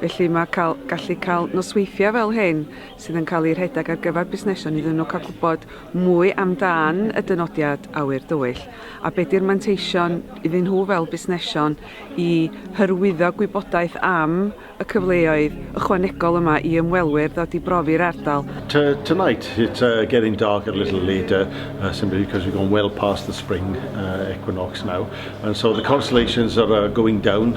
Felly mae cael, gallu cael nosweithiau fel hyn sydd yn cael eu rhedeg ar gyfer busnesion iddyn nhw cael gwybod mwy amdan y dynodiad awyr dywyll a beth yw'r manteision iddyn nhw fel busnesion i hyrwyddo gwybodaeth am y cyfleoedd ychwanegol yma i ymwelwyr ddod i brofi'r ardal. To, tonight it's uh, getting darker a little later uh, simply because we've gone well past the spring uh, equinox now and so the constellations are uh, going down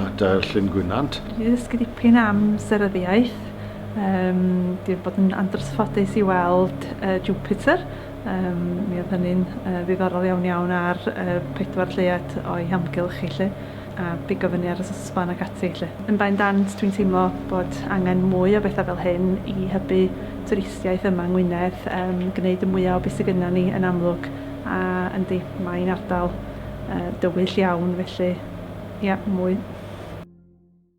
a Dair Llyn Gwynant. Dwi wedi dysgu dipyn am seryddiaeth. Um, dwi wedi bod yn andrysffodus i weld uh, Jupiter. Um, mi oedd hynny'n uh, ddiddorol iawn iawn ar uh, pedwar lleuad o'i hamgylch i lle a bigo fyny ar y sosban ac ati lle. Yn bain dant, dwi'n teimlo bod angen mwy o bethau fel hyn i hybu twristiaeth yma yng Ngwynedd, um, gwneud y mwyaf o beth sydd gyda ni yn amlwg a yndi, mae'n ardal Yy dywyll iawn felly ia mwy.